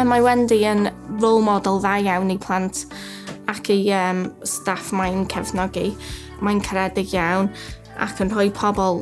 Mae Wendy yn role model dda iawn i plant ac i um, staff mae'n cefnogi. Mae'n caredig iawn ac yn rhoi pobl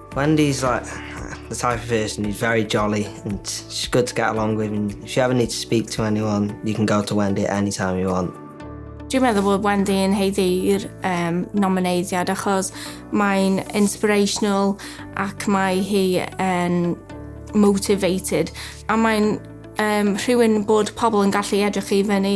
Wendy's like the type of person who's very jolly and she's good to get along with and if you ever need to speak to anyone, you can go to Wendy at any time you want. Dwi'n meddwl bod Wendy yn heiddi'r um, nomineidiad achos mae'n inspirational ac mae hi yn motivated a mae'n um, rhywun bod pobl yn gallu edrych i fyny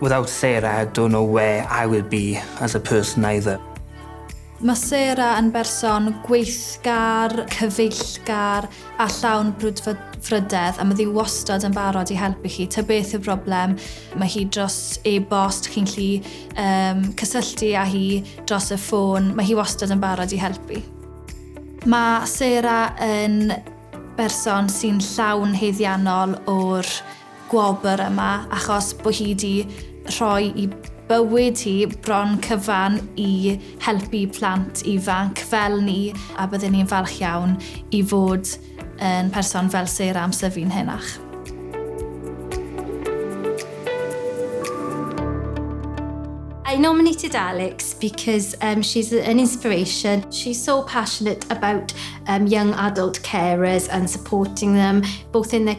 Without Sarah I don't know where I will be as a person either. Mae Sarah yn berson gweithgar, cyfeillgar a llawn brwdfrydedd a mae ddi wastad yn barod i helpu chi. Ta beth yw'r broblem, mae hi dros e-bost, chi'n lli um, cysylltu â hi dros y ffôn, mae hi wastad yn barod i helpu. Mae Sarah yn berson sy'n llawn heiddiannol o'r gwobr yma achos bod hi 'di rhoi i bywyd hi bron cyfan i helpu plant ifanc fel ni a byddwn ni'n falch iawn i fod yn person fel Sarah am syfu'n henach. I nominated Alex because um, she's an inspiration. She's so passionate about um, young adult carers and supporting them both in their